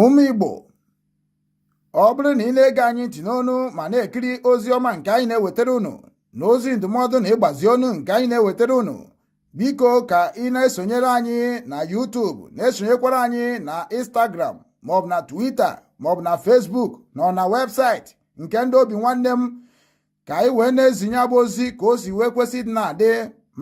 ụmụ Igbo ọ bụrụ na ị na-ege anyị ntị n'onu ma na-ekiri ozi ọma nke anyị na-ewetara unu na ozi ndụmọdụ na ịgbazi ọnụ nke anyị na-ewetara unu biko ka ị na-esonyere anyị na YouTube na-esonyekwara anyị na Instagram maọbụ na Twitter maọbụ na Facebook na ọ na webụsaịtị nke ndị Obinwannem ka anyị wee na-ezi nya bụ ozi ka o si wee kwesị dị na-adị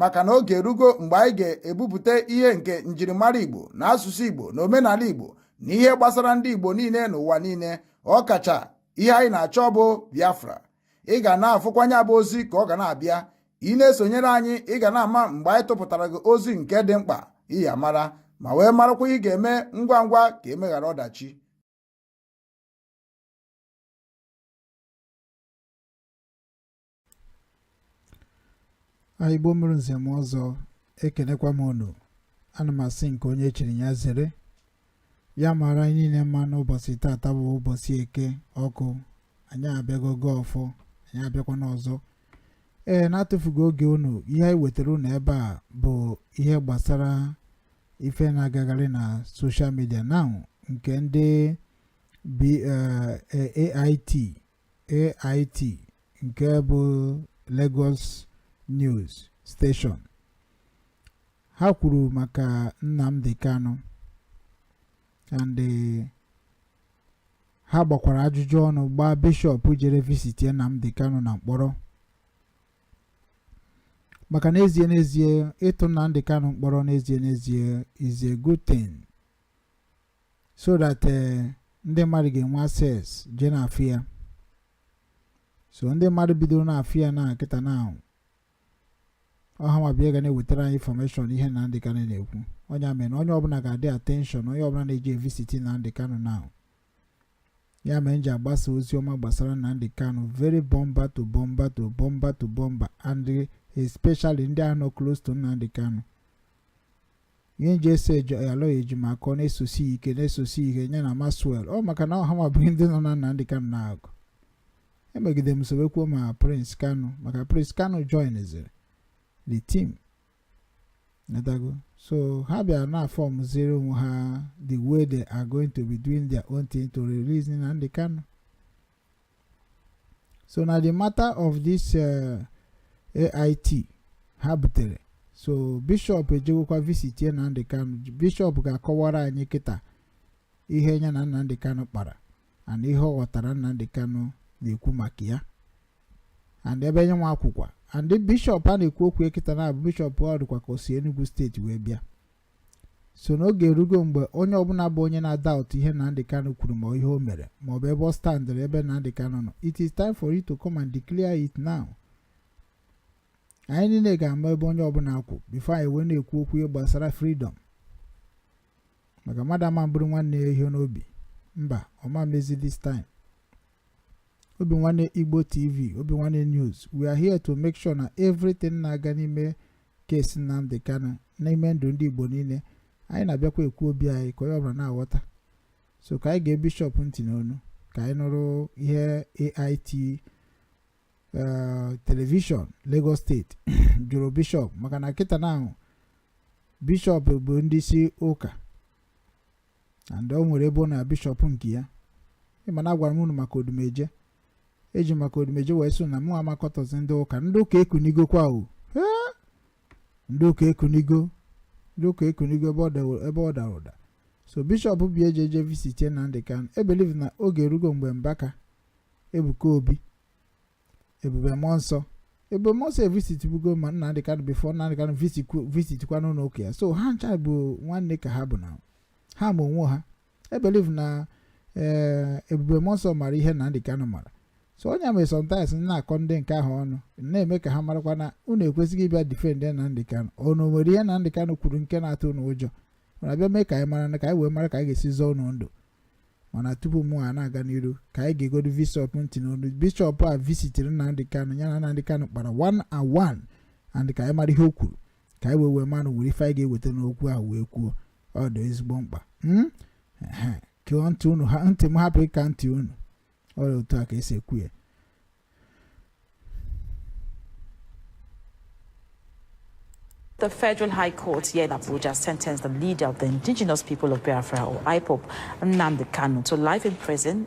maka na oge erugo mgbe anyị ga-ebupụta ihe nke njirimara Igbo na asụsụ Igbo na omenala Igbo na ihe gbasara ndị Igbo niile n'ụwa niile ọkacha ihe anyị na-achọ bụ Biafra ị ga na-afụkwa nya bụ ozi ka ọ ga na-abịa ị na-esonyere anyị ị ga na-ama mgbe anyị tụpụtara gị ozi nke dị mkpa ị ya-amara ma wee marakwa ị ga-eme ngwa ngwa ka e meghara ọdachi Igbo mụrụ nze mụọ ọzọ ekelekwa m unu ana m asị nke onye chiri ya zere ya mara anyị niile mma n'ụbọsị taata bụ ụbọsị Eke ọkụ anyị abịago gọọ ọfọ anyị abịakwanụ ọzọ ee n'atụfughị oge unu ihe anyị wetara unu ebe a bụ ihe gbasara ife na-agagharị na soshal midia na nke ndị B- eh, eh, AIT AIT nke bụ Lagos News Station ha kwuru maka Nnamdi Kanu and eh, ha gbakwara ajụjụ ọnụ gbaa bishọp jere visitie Nnamdi Kanu na mkpọrọ maka n'ezie n'ezie ịtụ Nnamdi Kanu mkpọrọ n'ezie n'ezie is a good thing so that eh, ndị mmadụ ga-enwe access jee na-afụ ya so ndị mmadụ bidoro na-afụ ya na kịta na ọ ha nwa bụ ha ga na-ewetara anyị infọmeshọn ihe Nnamdi Kanu na-ekwu ọ nya mere onye ọbụla ga-adị atenshọn onye ọbụla na-eje evisiti Nnamdi Kanu now ya mere m ji agbasa ozi ọma gbasara Nnamdi Kanu very bumper to bumper to bumper to bumper and especially ndị ahụ nọ close to Nnamdi Kanu ihe m ji eso Aloy Ejimakor na-esosi ike na-esosi ike nya na Maxwell ọ maka na ọ ha nwa bụ ndị nọ na Nnamdi Kanu n'ahụ e megide m sobekwuo ma Prince Kanu maka Prince Kanu joinziri the team natago so ha bịara na fọmziri onwe ha the way they are going to be doing their own thing to release Nnamdi Kanu so na the matter of this uh, AIT ha butere so bishọp ejewekwa visitie Nnamdi Kanu bishọp ga-akọwara anyị kịta ihe ya na Nnamdi Kanu kpara and ihe ọ ghọtara Nnamdi Kanu na-ekwu maka ya and ebe nya nwa kwụkwa and bishọp a na-ekwu okwu a kịta na abụ bishọp ọ dịkwa ka o si Enugu steeti wee bịa so na oge erugo mgbe onye ọbụla bụ onye na-adoubt ihe Nnamdi Kanu kwuru ma ihe o mere ma ọ bụ ebe ọ standịrị ebe Nnamdi Kanu nọ it is time for you to come and declare it now anyị niile ga-ama ebe onye ọbụla kwụ bifo anyị wee na-ekwu okwu ihe gbasara freedom maka mmadụ ama buru nwanne ya ihe n'obi mba ọ ma mezi this time Obinwannem Igbo TV Obinwannem News we are here to make sure na everything na-aga n'ime case Nnamdi Kanu n'ime ndụ ndị Igbo niile anyị na-abịakwa ekwu obi anyị ka onye ọbụla na-aghọta so ka anyị gee bishọp ntị n'onu ka anyị nụrụ ihe AIT eh, telivishọn Lagos steeti jụrụ bishọp maka na kịta na ahụ bishọp bụ ndị isi ụka and o nwere ebe ọ na bishọp nke ya ị ma na agwara m unu maka odumeje eji maka odumeje wee sị na mụ amakọtọzi ndị ụka ndị ụka ekunigokwa o Ee! ndị ụka ekunigo ndị ụka ekunigo ebe ọ dawo- ebe ọ dara ụda so bishọp bi eji eje visitie Nnamdi Kanu I believe na oge erugo mgbe mbaka ebuka obi ebube mmụọ nsọ ebube mmụọ nsọ evisitbugo ma Nnamdi Kanu bifo Nnamdi Kanu visitikwa n'ụlọ ụka ya so ha ncha bụ nwanne ka ha bụ na ha ma onwe ha I believe na ee eh, ebube mmụọ nsọ mara ihe Nnamdi Kanu mara so ọ nya mere sometimes na-akọ ndị nke ahụ ọnụ na-eme ka ha marakwa na unu ekwesịghị ịbịa defend Nnamdi Kanu unu nwere ihe Nnamdi Kanu kwuru nke na-atụ unu ụjọ mana bịa mee ka anyị mara na ka anyị wee mara ka anyị ga-esi zọọ unu ndụ mana tupu mụ a na-aga n'iru ka anyị geegodu bishọp ntị n'olu bishọp a visitiri Nnamdi Kanu ya na Nnamdi Kanu kpara one on one and ka anyị mara ihe o kwuru ka anyị wee wee mara were ife anyị ga-eweta n'okwu ahụ wee kwuo ọ dị ezigbo mkpa hmm? kụọ ntị unu ha ntị m hapụ ịka ntị unu ọ dị otu a ka esi ekwu ya The Federal High Court here in Abuja sentenced the leader of the indigenous people of Biafra, or IPOB, Nnamdi Kanu, to life in prison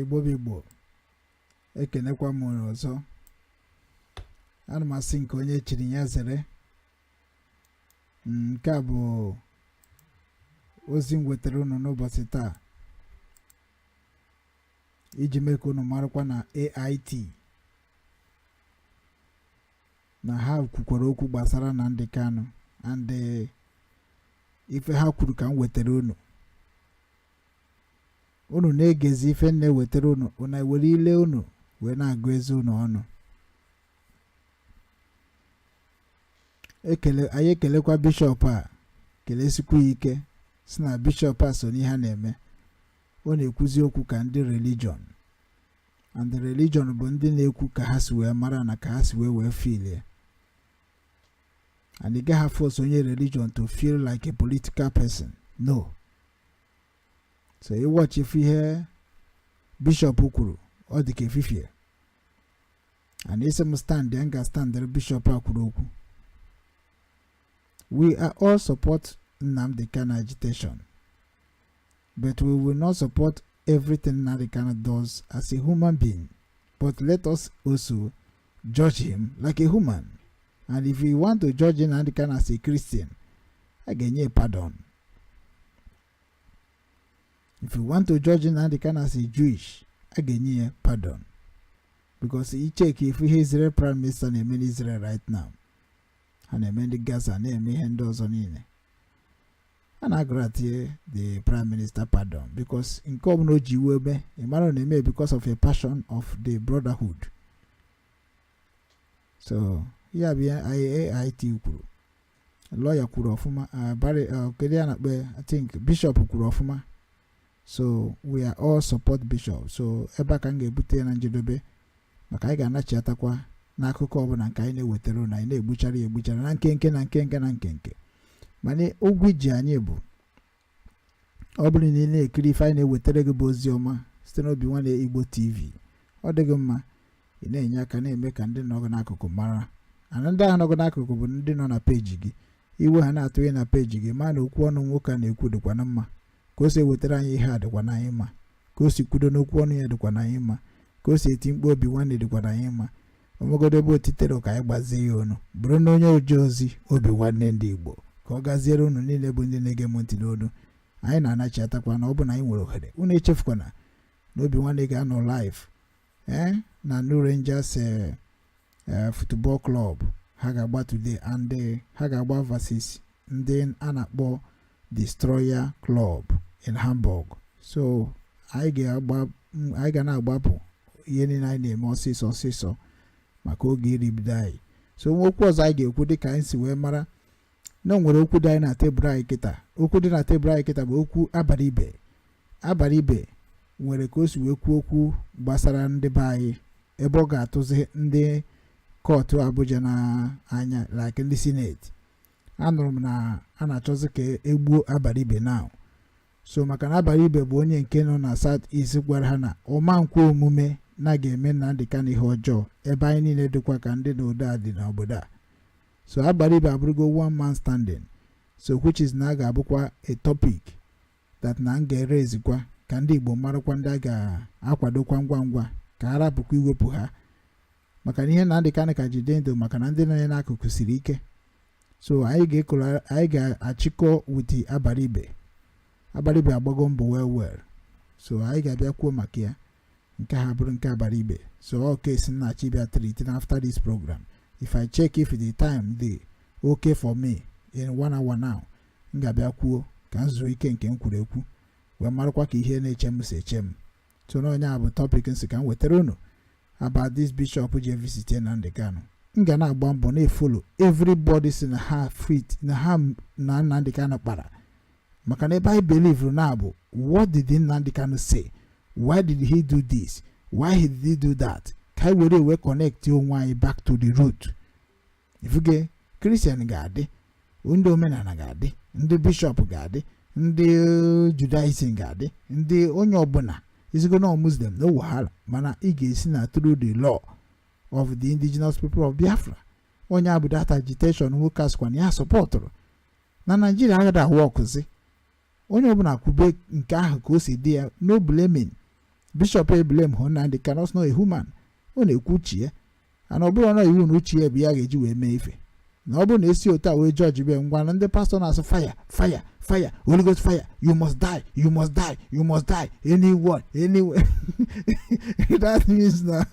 igbo bụ igbo ekenekwa m unu ọzọ ana m asị nke onye chiri ya zere nke a bụ ozi m wetara unu n'ụbọchị taa iji mee ka unu marakwa na AIT na ha kwukwara okwu gbasara Nnamdi Kanu and ife ha kwuru ka m wetara unu unu na-egezi ife m na-ewetara unu unu ewere ile unu wee na-agụ eze unu ọnụ anyị ekelekwa bishọp a kelesikwu ya ike si na bishọp a so n'ihe a na-eme ọ na-ekwuzi okwu ka ndị religion and the religion bụ ndị na-ekwu ka ha si wee mara na ka ha si wee wee filie and ị gaghị force onye religion to feel like a political person no so ị watch ị fụ ihe bishọp kwuru ọ dị ka efifie and ị sị m standịa m ga-standịrị bishọp a kwuru okwu we are all support Nnamdi Kanu agitation but we will not support everything Nnamdi Kanu does as a human being but let us also judge him like a human and if you want to judge Nnamdi Kanu as a Christian a ga-enye pardon if you want to judge Nnamdi Kanu as a Jewish a ga-enye ya pardon because ị check ị fụ ihe Israel prime minister na-eme n'Israel right now ha na-eme ndị Gaza na-eme ihe ndị ọzọ niile a na-agrantie the prime minister pardon because nke ọbụla o ji iwe eme ị mara ọ na-eme because of a passion of the brotherhood so ya bụ ihe AIT kwuru lọya kwuru ọfụma uh, Barry uh, kedu ihe a na-akpọ ya? I think bishọp kwuru ọfụma so we are all support bishọp so ebe a ka m ga-ebute ya na njedebe maka anyị ga-anachiatakwa n'akụkọ ọbụla nke anyị na-ewetara na anyị na-egbuchara ya egbuchara na nkenke na nkenke na nkenke mana ụgwọ i ji anyị bụ ọ bụrụ na ị na-ekiri ife anyị na-ewetara gị bụ ozi ọma site n'obi nwanne igbo tv ọ dị gị mma ị na-enye aka na-eme ka ndị nọ gị n'akụkụ mara and ndị ahụ nọ gị n'akụkụ bụ ndị nọ na peji gị i we ya na-atụye na peji gị ma na okwu ọnụ nwoke a na-ekwu dịkwa na mma ka o si ewetara anyị ihe a dịkwa na anyị mma ka o si kwudo n'okwu ọnụ ya dịkwa na anyị mma ka o si eti mkpu obi nwanne dịkwa na anyị mma o nwegodo ebe o titero ka anyị gbazie ya ọnụ bụrụ na onye oje ozi obi nwanne ndị igbo ka ọ gaziere unu niile bụ ndị na-ege m ntị n'olu anyị na-anachiatakwa na ọ bụ na anyị nwere ohere unu echefukwana na obi nwanne ga-anọ live ee eh, na New Rangers eh, eh, football club ha ga-agba today and ha ga-agba versus ndị a na-akpọ Destroyer Club in Hamburg so anyị ga-agba m- anyị ga na-agbapụ ihe niile anyị na-eme ọsịsọ ọsịsọ maka oge eribido anyị so ngwa okwu ọzọ anyị ga-ekwu dịka anyị si wee mara na o nwere okwu dị anyị na tebụl anyị kịta okwu dị na tebụl anyị kịta bụ okwu Abaribe Abaribe nwere ka o si wee kwuo okwu gbasara ndị be anyị ebe ọ ga-atụzi ndị kọtụ Abuja n'anya like ndị sineti anụrụ m na a na-achọzi ka e gbuo Abaribe now so maka na Abaribe bụ onye nke nọ na South East gwara ha na ọ ma nkwe omume na a ga-eme Nnamdi Kanu ihe ọjọọ ebe anyị niile dịkwa ka ndị ndụ dị n'obodo a so Abaribe abụrụgo one man standing so which is na a ga-abụkwa a topic that na m ga-erezikwa ka ndị Igbo marakwa ndị a ga-akwadokwa ngwa ngwa ka a rapụkwa iwepụ ha maka na ihe Nnamdi Kanu ka ji dị ndụ maka na ndị nọ ya n'akụkụ siri ike so anyị ga-ekolo- anyị ga-achịkọ with Abaribe Abaribe agbago mbọ well well so anyị ga-abịa kwuo maka ya nke a bụrụ nke Abaribe so all case m na-achọ ịbịa treat na after this program if i check if the time dey okay for me in one hour now m ga-abịa kwuo ka m zuo ike nke m kwuru ekwu wee marakwa ka ihe na-eche m si eche m so na onye a bụ topic m sị ka m wetara unu about this bishop ji visit Nnamdi Kanu m ga na-agba mbọ na-efolo everybody sị na ha fit na ha na Nnamdi Kanu kpara maka na ebe anyị believe na bụ what did Nnamdi Kanu say why did he do this why did he do that ka anyị were wee connect onwe anyị back to the root ị fụgo kristian ga-adị ndị omenala ga-adị ndị bishọp ga-adị ndị judaism ga-adị ndị onye ọbụla ị sịgo na muslim no wahala mana ị ga-esi na through the law of the indigenous people of biafra onye a bụ that agitation nwoke a sịkwa na ya sọpọtụrụ na naijiria agaghị awọkụzi onye ọbụla kwube nke ahụ ka o si dị ya no blaming bishọp eblemhụ Nnamdi Kanu ọ sị na human ọ na-ekwu uche ya and ọ bụrụ na iwu na uche ya bụ ya ga-eji wee mee ife na ọ bụrụ na e si otu a wee jọjibe ngwa na ndị pastọ na-asị faya faya faya Holy Ghost faya you must die you must die you must die anyone anywhere that means na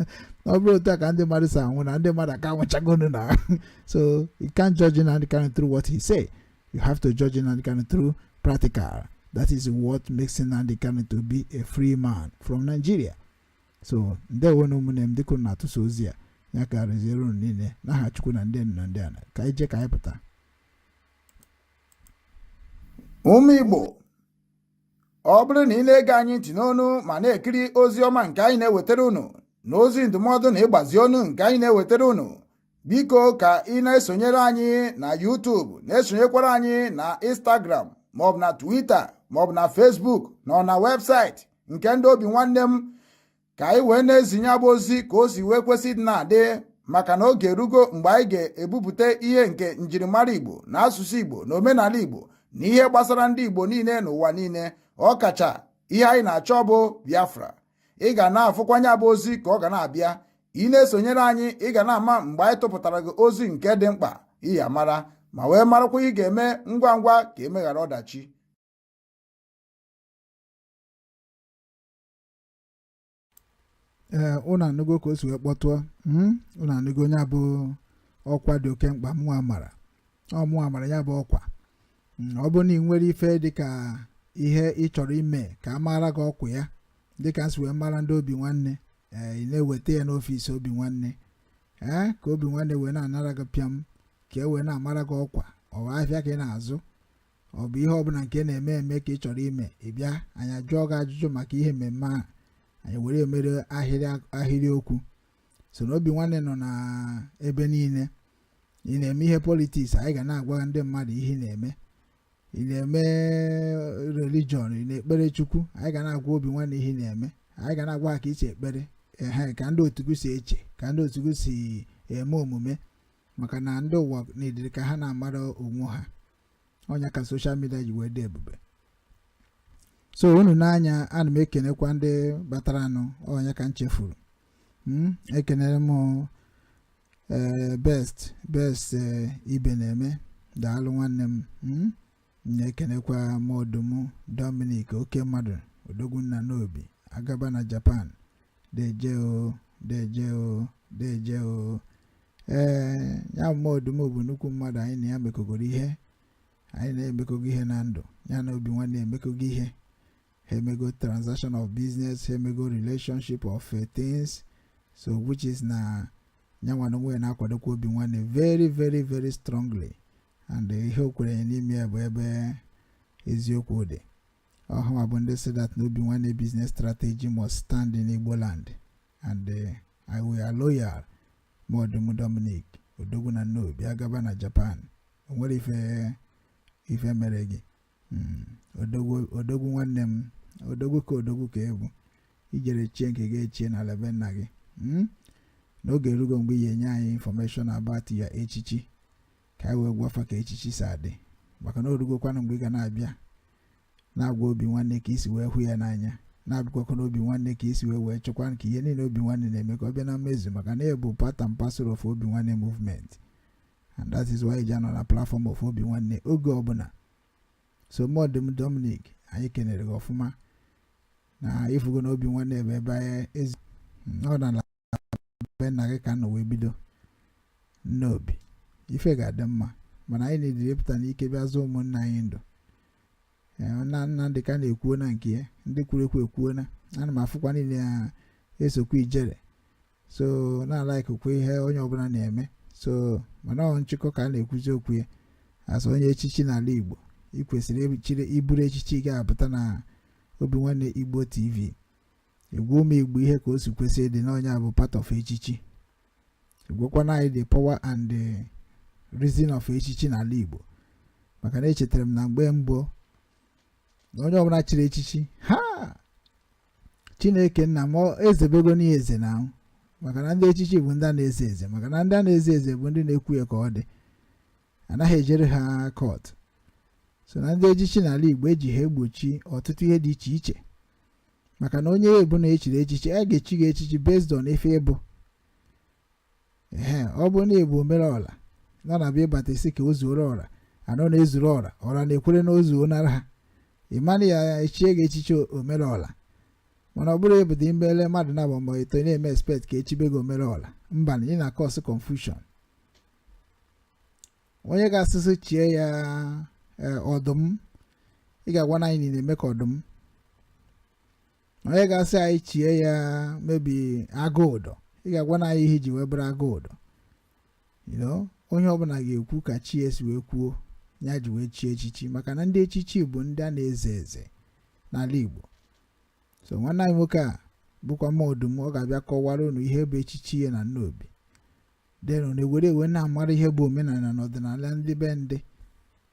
ọ bụrụ otu a ka ndị mmadụ si anwụ na ndị mmadụ aka anwụchagonu na so you can't judge Nnamdi Kanu through what he say You have to judge Nnamdi Kanu through practical. That is what makes Nnamdi Kanu to be a free man from Nigeria. So ndewo nụ ụmụnne m dịka na-atụsa ozi a ya ka reziere unu niile n'aha Chukwu na ndị na ndị ana ka anyị jee ka anyị pụta. Ụmụ Igbo ọ bụrụ na ị na-ege anyị ntị n'onu ma na-ekiri ozi ọma nke anyị na-ewetara unu na ozi ndụmọdụ na ịgbazi ọnụ nke anyị na-ewetara unu biko ka ị na-esonyere anyị na YouTube na-esonyekwara anyị na Instagram maọbụ na Twitter maọbụ na Facebook na ọ na webụsaịtị nke ndị Obinwannem ka anyị wee na-ezinye bụ ozi ka o si wee kwesị dị na-adị maka na oge erugo mgbe anyị ga-ebupụta ihe nke njirimara Igbo na asụsụ Igbo na omenala Igbo na ihe gbasara ndị Igbo niile n'ụwa niile ọ kacha ihe anyị na-achọ bụ Biafra ị ga na-afụkwa nya bụ ozi ka ọ ga na-abịa ị na-esonyere anyị ị ga na-ama mgbe anyị tụpụtara gị ozi nke dị mkpa ị ya mara ma wee marakwa ị ga-eme ngwa ngwa ka emeghara ọdachi ee ụnụ anụgo ka o si wee kpọtụọ hmm? ụnụ anụgo nya bụ ọkwa dị oke mkpa mụnwa mara ọ mụnwa mara ya bụ ọkwa mm, ọ bụrụ na ị nwere ife dịka ihe ị chọrọ ime ka a maara gị ọkwa ya dịka m si wee mara ndị obi nwanne ee eh, ị na-eweta ya n'ọfịs obi nwanne ee eh, ka obi nwanne wee na-anara gị pịam ka e wee na-amara gị ọkwa ọ bụ ahịa ka ị na-azụ ọ bụ ihe ọbụla nke na-eme eme ka ị chọrọ ime ị bịa anyị ajụọ gị ajụjụ maka ihe mmemme ahụ anyị were emere ahịrị okwu so na obi nwanne nọ na ebe niile ị na-eme ihe politiks anyị ga na-agwa ndị mmadụ ihe ị na-eme ị na-eme religion ị na-ekpere chukwu anyị ga na-agwa obi nwanne ihe ị na-eme anyị ga na-agwa ha ka i si ekpere ehe ka ndị otu gị si eche ka ndị otu gị si eme omume maka na ndị ụwa na-ediri ka ha na-amara onwe ha ọ nya ka soshal midia ji wee dị ebube so unu n'anya ana m ekenekwa ndị bataranụ onye ka m chefuru hmm? ekenere m eh, best best eh, Ibeneme daalụ nwanne m hmm? na-ekenekwa Modum Dominic oke mmadụ odogwu na Nnobi agaba na Japan deje o deje o deje o ee ya Modum bụ nnukwu mmadụ anyị na ya mekọgoro ihe anyị na ya emekọgo ihe na ndụ ya na obi nwanne emekọgo ihe ha emego transaction of business ha emego relationship of eh, things so which is na nyanwa n'onwe na-akwadokwa obi nwanne very very very strongly and eh, ihe o kwere n'ime ya bụ ebe eziokwu dị ọhụma bụ ndị sị that na obi nwanne business strategy must stand in Igbo land and uh, I we are loyal Modum Dominic odogwu na Nnobi agaba na Japan o nwere ife ife mere gị hmm, odogwu nwanne m odogwu ka odogwu ka ị bụ i jere chie nke gị echie n'ala be nna gị hmm? na oge erugo mgbe ị ya-enye anyị information about ya echichi ka anyị wee gwafa ka echichi si adị maka na o rugokwanụ mgbe ị ga na-abịa na-agwa obi nwanne ka i si wee hụ ya n'anya na-abịakwa akọ n'obi nwanne ka i si wee wee chọkwa ka ihe niile obi nwanne na-eme ka ọ bịa na mmezu maka na ị bụ part and parcel of obi nwanne movement and that is why i ji anọ na platform of obi nwanne oge ọbụla so Modum Dominic anyị kenere gị ọfụma na ị fụgo na obi nwanne ebe ebe anyị ezi ọ na be nna gị ka nọ wee bido n'obi ife ga-adị mma mana anyị na-ediri ịpụta n'ike bịa zọọ ụmụnna anyị ndụ na nna dị ka na-ekwuo na nke ya ndị kwuru ekwu ekwuo na ana m afụkwa niile ya esokwa ijere so na-alaikụkwa ihe onye ọbụla na-eme so mana ọ nchịkọ ka a na-ekwuzi okwu ya as onye echichi n'ala Igbo ị kwesịrị iburu echichi gị apụta na Obi Nwanne Igbo TV ị gwa ụmụ igbo ihe ka o si kwesị ịdị na ọ nya bụ part of echichi ị gwakwanụ anyị the power and the reason of echichi n'ala igbo maka na echetara m na mgbe mbụ na onye ọbụla chiri echichi ha chineke nna m ezebego n'ihe eze na ahụ maka na ndị echichi bụ ndị a na-eze eze maka na ndị a na-eze eze bụ ndị na-ekwu ya ka ọ dị anaghị ejere ha court so na ndị echichi n'ala igbo eji ha egbochi ọtụtụ ihe dị iche iche maka na onye ọbụna e chiri echichi a ga-echi gị echichi based on ife ị bụ ee ọ bụ na ị bụ omere ọla na na-ebubata sị ka o zuoro ọra na ọ na-ezuru ọra ọra na-ekwere na o zunara ha ị manụ ya e chie gị echichi omere ọla mana ọ bụrụ ị bụdị mbele mmadụ na agba mbọ ito na-eme expect ka e chibe gị omere ọla mba na ị na-cause confusion onye ga-asị sị chie ya e, ọdụm ị ga-agwanụ anyị na ị na-eme ka ọdụm onye ga-asị anyị chie ya maybe Agụudo ị ga-agwanụ anyị ihe i ji wee bụrụ Agụudo onye ọbụla ga-ekwu ka chi ya si wee kwuo ya ji wee chie echichi maka na ndị echichi bụ ndị a na-eze eze n'ala Igbo so nwanne anyị nwoke a bụkwa ma ọdụm ọ ga-abịa kọwara unu ihe bụ echichi ya na Nnobi then unu ewere wee na-amara ihe bụ omenala na ọdịnala ndị be ndị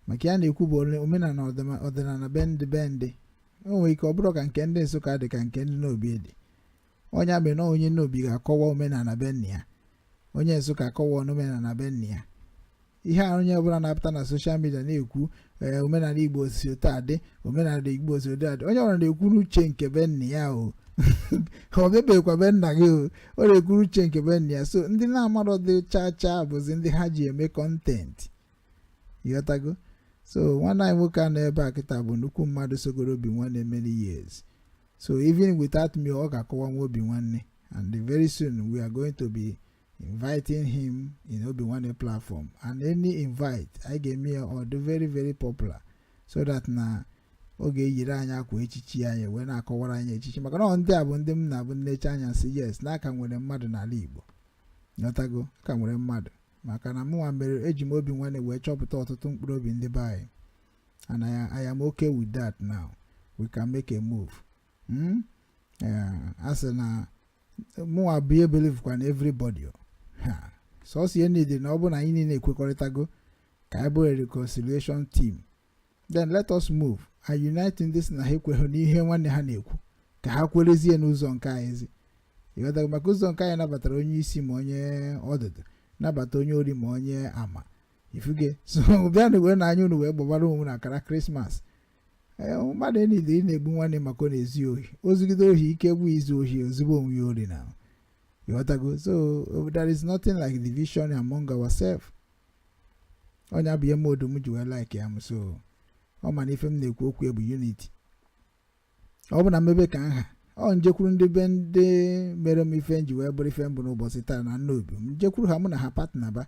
maka ihe a na-ekwu bụ omenala ọdịnala be ndị be ndị o nwere ike ọ bụrụ ka nke ndị Nsụka dị ka nke ndị Nnobi dị ọ nya bụ na onye Nnobi ga-akọwa omenala be nna ya onye Nsụka akọwa omenala be nna ya ihe a onye ọbụla na-apụta na social media na-ekwu ee omenala igbo si otu a dị omenala igbo si otu a dị onye ọbụla na-ekwu n'uche nke be nna ya o ọ bịabeghịkwa be nna gị o ọ na-ekwu n'uche nke be nna ya so ndị na-amarọdị chaa chaa bụzi ndị ha ji eme content ịghọtago so nwanne anyị nwoke a nọ ebe a kịta bụ nnukwu mmadụ sogoro obi nwanne many years so even without me ọ ga-akọwanwu obi nwanne and very soon we are going to be inviting him in Obi Nwanne platform and any invite anyị ga-eme ya ọ dị very very popular so that na ọ ga-eyiri anyị akwa echichi anyị wee na-akọwara anyị echichi maka na ndị a bụ ndị m na-abụ m necha anya sị yes na a ka nwere mmadụ n'ala Igbo ịghọtago a ka nwere mmadụ maka na mụnwa mere eji m obi nwanne wee chọpụta ọtụtụ mkpụrụ obi ndị be anyị and I, I am okay with that now we can make a move hmm? a sị na mụnwa bụ ihe believekwa na everybody sọsọ ihe niile na ọ bụ na anyị niile ekwekọrịtago ka anyị bụrụ reconciliation team then let us move and unite ndị si na ha ekweghị n'ihe nwanne ha na-ekwu ka ha kwerezie n'ụzọ nke anyị ezi ịghọtago maka ụzọ nke anyị nabatara onye isi ma onye ọdụdụ nabata onye ori ma onye ama ị fụgo so bịanụ wee na anya unu wee gbabara onwe na akara Christmas Ee, mmadụ enide ị na-egbu nwanne maka ọ na-ezu ya ohi o zugide ohi ike gwụ izu ohi ozugbo onwe ya ori na ịghọtago so uh, there is nothing like division among ourselves ọ nya bụ ihe Modum ji wee like ya m so ọ ma na ife m na-ekwu okwu ya bụ unity ọ bụ na m mebe ka nha ọ m jekwuru ndị be ndị mere m ife m ji wee bụrụ ife m bụ n'ụbọchị taa na Nnobi m jekwuru ha mụ na ha partner ba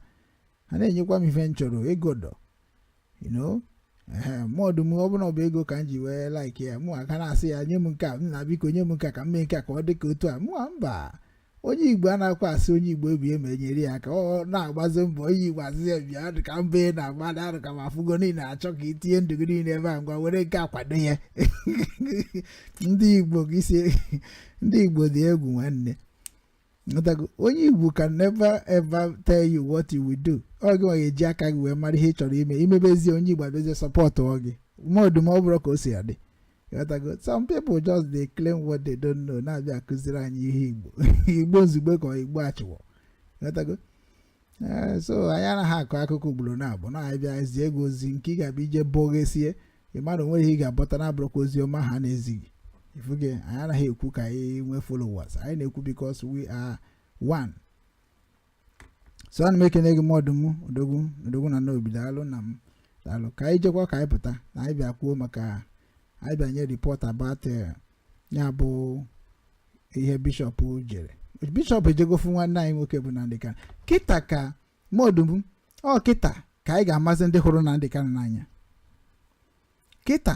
ha na-enyekwa m ife m chọrọ ego dọ you know Modum ọ bụ na ọ bụ ego ka m ji wee like ya mụ aka na-asị ya nye m nke a nna biko nye m nke a ka m mee nke a ka ọ dị ka otu a mụa mba onye igbo anaghịkwa asị onye igbo ibe ya nyere ya aka ọ na-agbazi mbọ onye igbo asị ya bịa dị ka mbọ ị na-agba arụ ka ma afụgo niile achọ ka i tinye ndụ gị niile ebe a ngwa were nke a kwado ya ndị igbo ndị igbo dị egwu nwanne Ịghọtago? onye igbo can never ever tell you what you will do ọ gị nwa ga-eji aka gị wee mara ihe ị chọrọ ime i mebezie onye igbo abịazie supportụọ gị Modum ọ bụrụ ka o si adị Ịghọtago? some people just dey claim what they don't know na-abịa akụziri anyị ihe igbo igbo nzugbe ka ọ igbo achịwọ Ịghọtago? Ee, so anyị anaghị akọ akụkọ ugboro naabọ na anyị bịa zie gị ozi nke ị ga-abịa ije bọghesie ị mara o nwere ihe ị ga-abọta na-abụrọkwa ozi ọma ha na-ezi gị ị fụgo anyị anaghị ekwu ka anyị nwee followers anyị na-ekwu because we are one so ana m ekene gị Modum odogwu odogwu na Nnobi daalụ nna m daalụ ka anyị jekwa ka anyị pụta na anyị bịa kwuo maka anyị bịa nye report about eh, ya bụ ihe bishop jere bishop ejego fụ nwanne anyị nwoke bụ Nnamdi Kanu kịta ka Modum ọ kịta ka anyị ga-amazi ndị hụrụ Nnamdi Kanu n'anya kịta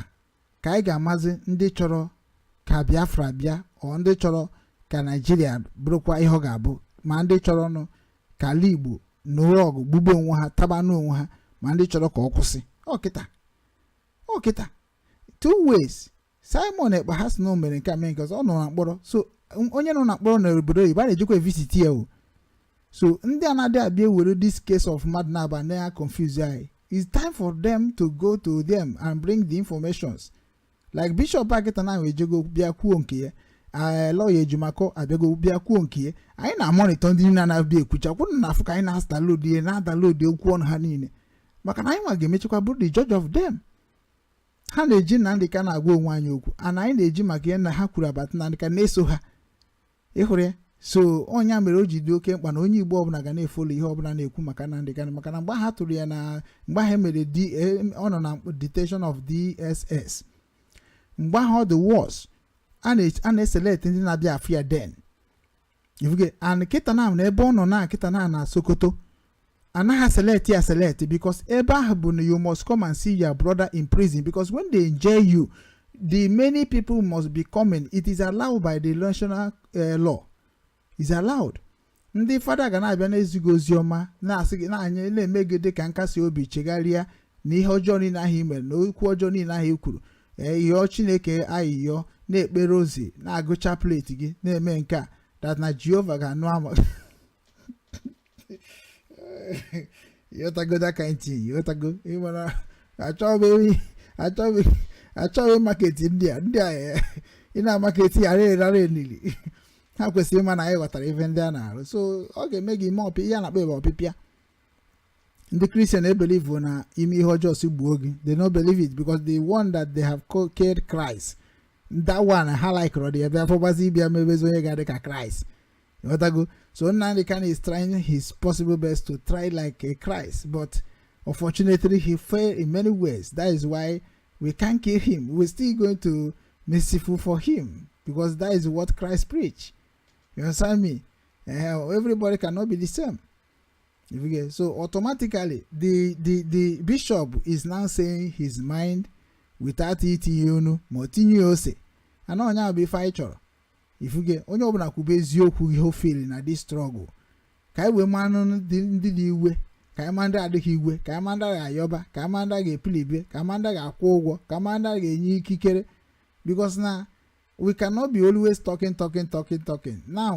ka anyị ga-amazi ndị chọrọ ka Biafra bịa or ndị chọrọ ka Naijiria bụrụkwa ihe ọ ga-abụ ma ndị chọrọnụ ka ala Igbo nụrụ ọgụ gbugbuo onwe ha tabanụ onwe ha ma ndị chọrọ ka ọ kwụsị ọ kịta ọ kịta two ways Simon Ekpa ha sị na o mere nke a mee nke ọzọ ọ nọ na mkpọrọ so m- onye nọ na mkpọrọ na obodo oyibo a na-ejekwa evisit ya o so ndị a na-adị abịa ewere this case of mmadụ na-aba na ya confuse anyị it's time for them to go to them and bring the informations like bishop kịta now ejego bịa kwuo nke ya ee lawyer Ejimakor abịago bịa kwuo nke ya anyị na-amonitor ndị niile na-abịa ekwucha kwụrụ na afụ ka anyị na-adownload ihe na-adownload okwu ọnụ ha niile maka na anyị nwa ga-emechekwa bụrụ the judge of them ha na-eji Nnamdi Kanu na-agwa onwe anyị okwu and anyị na-eji maka ihe na ha kwuru abata Nnamdi Kanu na-eso ha ịhụrụ ya so ọnya mere o ji dị oke mkpa na onye igbo ọbụla ga na-efolo ihe ọbụla na-ekwu maka Nnamdi Kanu maka na mgbe ha tụrụ ya na mgbe ha mere D- eh, ọ nọ na detention of dss mgbe ahụ ọ dị worse a na- a na-eselect ndị na-abịa afụ ya then ị fụgo and kịta na na ebe ọ nọ na kịta na na sokoto anaghị eselect ya select because ebe ahụ bụ na you must come and see your brother in prison because when they jail you the many people must be coming it is allowed by the national uh, law is allowed ndị fada ga na-abịa na-ezi gị ozi ọma na-asị gị na-anya na-eme gị dị ka nkasi obi chegharịa na ihe ọjọọ niile ahụ i mere na okwu ọjọọ niile ahụ i kwuru ee yọọ chineke ayịyọ na-ekpe rosary na-agụ chaplet gị na-eme nke a that na jehova ga-anụ ama ị ghọtago that kind thing ị ghọtago ịmara achọghị achọghị achọghị market ndị a ndị a eh, ị na-amaketi ya rere rara enili ha kwesịrị ịma na anyị ghọtara ife ndị a na-arụ so ọ ga-eme gị ime ọpị ihe a na-akpọ ebe ọpịpịa ndị kristian ebelivu na ime ihe ọjọọ si gbuo gị they no believe it because the one that they have killed Christ that one ha likere dị ebe afọ gbazi ịbịa mebezi onye ga-adị ka Christ ịghọtago so Nnamdi Kanu is trying his possible best to try like a Christ but unfortunately he failed in many ways that is why we can't kill him we're still going to merciful for him because that is what Christ preach you understand me uh, everybody cannot be the same If you get so automatically the the the bishop is now saying his mind without itinye nnu ma ọ tinye ose and ọnya bụ ife anyị chọrọ ị fụgo onye ọbụla kwube eziokwu ihe ọ feel na this struggle ka anyị wee manụ ndị ndị dị iwe ka anyị ma ndị adịghị iwe ka anyị ma ndị ga-ayọba ka anyị ma ndị ga-epilibe ka anyị ma ndị ga-akwụ ụgwọ ka anyị ma ndị ga-enye ikikere because na we cannot be always talking talking talking talking now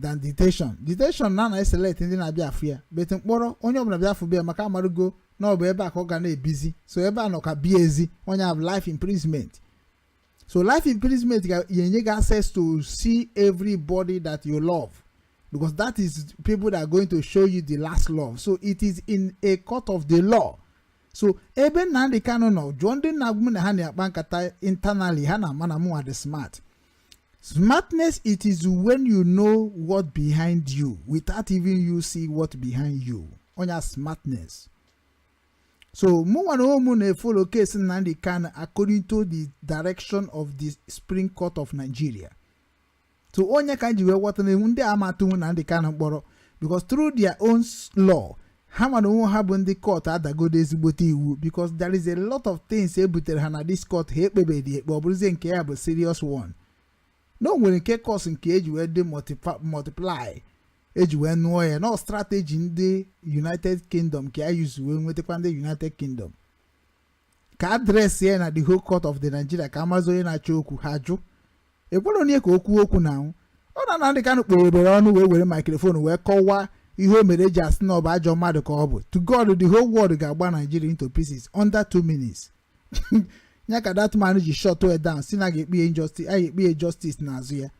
than detention detention a na-eselect ndị na-abịa afụ ya but mkpọrọ onye ọbụla bịa afụ bịa maka amarugo na ọ bụ ebe a ka ọ ga na-ebizi so ebe a nọ ka bie ezi ọnya bụ life imprisonment so life imprisonment ga-enye gị access to see everybody that you love because that is people that are going to show you the last love so it is in a court of the law so ebe Nnamdi Kanu nọ jụọ ndị na-agwa m na ha na-akpa nkata internally ha na-ama na mụnwa dị smart Smartness it is when you know what behind you without even you see what behind you. Onya smartness. So mụnwa na onwe m na-efolo case Nnamdi Kanu according to the direction of the Supreme Court of Nigeria. So ọnya ka m ji wee ghọta na ndị a ama atụnwu Nnamdi Kanu mkpọrọ because through their own s- law ha mara onwe ha bụ ndị court adagodo ezigbote iwu because there is a lot of things e butere ha na this court ha ekpebedi ekpe ọ bụrụzie nke ya bụ serious one na o nwere nke cause nke eji wee dị multipa- multiply eji wee nụọ ya na ọ strategy ndị united kingdom ka ya use wee nwetakwa ndị united kingdom ka adreesị ya na the whole court of the nigeria ka amazi onye na-achọ okwu ha jụ ekwere onye ka o kwuo okwu na anwụ ọ na Nnamdi Kanu kpere ebere ọnụ wee were maikrofon wee kọwaa ihe o mere eji asị na ọ bụ ajọ mmadụ ka ọ bụ to god the whole world ga-agba nigeria into pieces under two minutes ya ka that man ji shọtụọ ya down sị na a ga-ekpe ya injustice a ga-ekpe ya justice n'azụ ya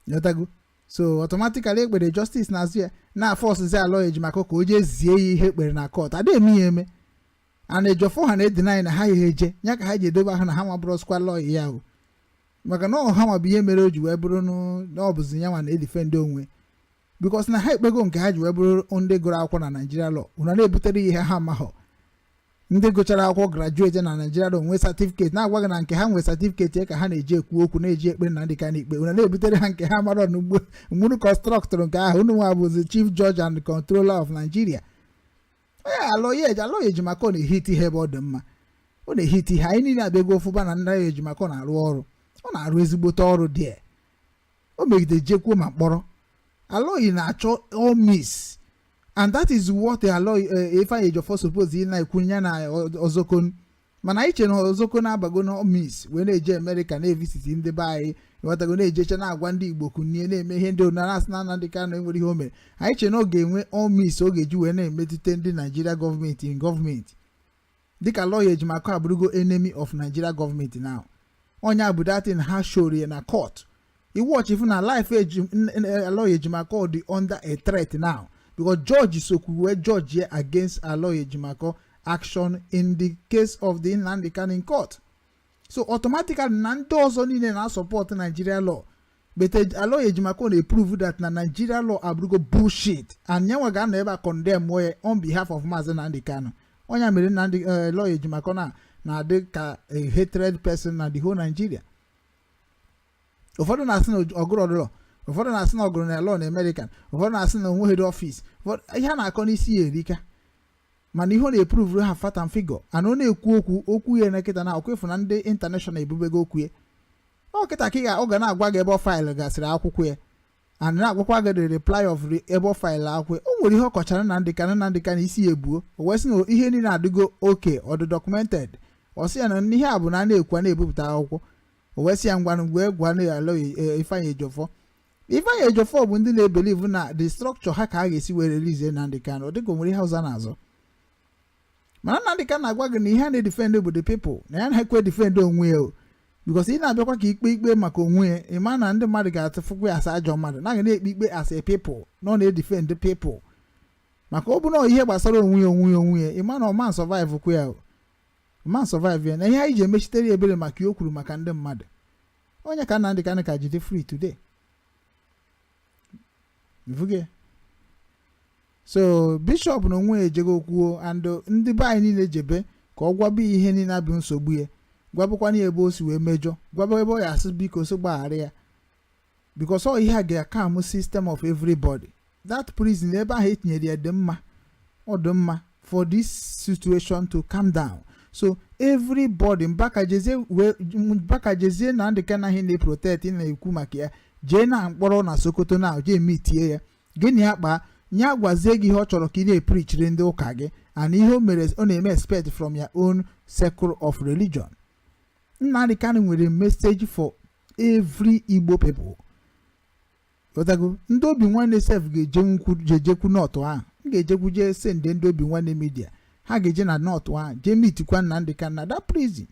Ịghọtago? so automatically ekpere justice n'azụ ya na-afọsụzi Aloy Ejimakor ka o jee zie ya ihe e kpere na kọt adịghị eme ya eme and Ejiofor ha na-edinaị na ha ya eje ya ka ha ji edobe ahụ na ha ma bụrụzikwa lọya ya o maka na ọha ma bụ ihe mere o ji wee bụrụ na ọ bụzi ya nwa na-edifendị onwe bikos na ha ekpego nke ha ji wee bụrụ ndị gụrụ akwụkwọ na naijiria lọ ụna na-ebutere ihe ha mahụ ndị gụchara akwụkwọ grajueti na naijiria lọ nwee satifiketi na-agwa gị na nke ha nwee satifiketi ka ha na-eji ekwu okwu na-eji ekpere Nnamdi Kanu ikpe ụna na-ebutere ha nke ha mara n'ugbo mgburu kọnstrọktụrụ nke ahụ unu nwa bụzi chief judge and controller of nigeria onye Aloy Eji Aloy Ejimakor na-ehiti ihe ebe ọ dị mma ọ na-ehiti ihe anyị niile abịago ofụba na ndị Ejimakor na-arụ ọrụ ọ na-arụ ezigbote ọrụ dị o megide jekwuo ma mkpọrọ Aloy na-achọ all means and that is what lọya ifeanyi ejiofor suppose ị na-ekwu ya na Ozekhome mana anyị che na Ozekhome abago na all means wee na-eje amerịka na-evisiti ndị be anyị ịghọtago na-ejecha na-agwa ndị igbo kunie na-eme ihe ndị onara asị na Nnamdi Kanu enwere ihe o mere anyị che na ọ ga-enwe all means ọ ga-eji wee na-emetụta ndị naijiria gọọmenti in gọọmenti dịka Aloy Ejimakor abụrụgo enemy of nigeria gọọmenti now onye a bụ that thing ha shoro ya na court ị watch ị fụ na life eji- n- n- eh, Aloy Ejimakor dị under a threat now because judge sokwu wee judge ya against aloy ejimakor action in the case of the nnamdi kanu in court so automatically na ndị ọzọ niile na-asọpọtụ nigeria law but eh, aloy ejimakor na prove that na nigeria law abụrụgo bullshit and nyanwa ga-anọ ebe a condemn ya on behalf of maazị Nnamdi Kanu ọ ya mere Nnamdi eh, aloy ejimakor na na-adị ka a hated person na the whole nigeria ụfọdụ na-asị na ọ gụrọdụ law ụfọdụ na-asị na ọ gụrụ na law na american ụfọdụ na-asị na o nweghịdị ọfịs ihe a na-akọ n'isi ya erika mana ihe ọ na-epruvuru ha fact and figure and ọ na-ekwu okwu okwu ya na kịta na ọkwa ị fụ na ndị intanashọnal ebubego okwu ya ọ kịta ka ị ga- ọ ga na-agwa gị ebe ọ faịlụ gasịrị akwụkwọ ya and na-agwakwa gị the reply of re- ebe ọ faịlụ akwụkwọ ya. o nwere ihe ọ kọchara Nnamdi Ka Nnamdi Kanu isi ya ebuo o wee sị na ihe niile adịgo okay ọ dị documented ọ sị ya na ihe a bụ na a na-ekwu a na-ebupụta akwụkwọ o wee sị ya ngwanụ ngwa gwa na ya lọya Ifeanyi Ejiofor Ifeanyi Ejiofor bụ ndị na-ebelivu na the structure ha ka a ga-esi wee release Nnamdi Kanu ọ dịka o nwere ihe ọzọ na-azọ mana Nnamdi Kanu na-agwa gị na ihe ya na-edifendị bụ the people na ya na-ekwe edifendị onwe ya o bikos ị na-abịakwa ka ikpe ikpe maka onwe ya ị ma na ndị mmadụ ga-atụfukwa ya asa ajọ mmadụ na ya na-ekpe ikpe as a people na ọ na-edifendị people maka ọ bụrụ ihe gbasara onwe ya onwe ya onwe ya ị ma na ọ ma sọvaịvụkwa ya ọ ma sọvaịvụ ya na ihe anyị ji emechitere ya ebere maka ihe o kwuru maka ndị mmadụ onye ka Nnamdi Kanu ka jide free today ị fugo so bishọp n'onwe ya ejego kwuo and ndị be anyị niile jebe ka ọ gwaba ihe niile bụ nsogbu ya gwabakwanụ ya ebe o si wee mejọ gwaba ebe ọ ya-asị biko sị gbaghara ya because ọ ihe ga-akam system of everybody that prison ebe ahụ e tinyere ya dị mma ọ dị mma for this situation to calm down so everybody Mbaka jezie na ndị ka na gị na-eprotect na-ekwu maka ya jee na mkpọrọ na Sokoto na jee mitie ya gị na ya kpaa ya gwazie gị ihe ọ chọrọ ka ị na-eprichiri ndị ụka gị and ihe o mere ọ na-eme expect from your own circle of religion Nnamdi Kanu nwere message for every Igbo people ghọtago ndị Obinwannem sef ga-ejekwu jejekwu nọtụ ahụ m ga-ejekwu jee sende ndị Obinwannem midia ha ga-eje na nọtụ ahụ jee mitikwa Nnamdi Kanu na that prison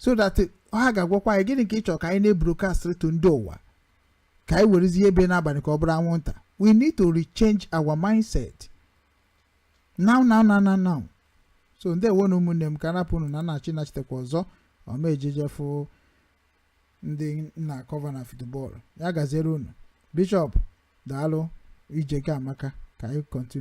so that ha ga-agwakwa anyị gịnị ka ị chọrọ ka anyị na-ebrokast to ndị ụwa ka anyị werezi ihe bere n'abalị ka ọ bụrụ anwụnta we need to rechange our mindset now now now now now so ndewo nụ ụmụnne m ka m rapụ unu na na-achị nachitekwa ọzọ ọma ejejefu ndị na-akọva na futubọọlụ ya gaziere unu bishọp daalụ ije gị amaka ka anyị kọntinu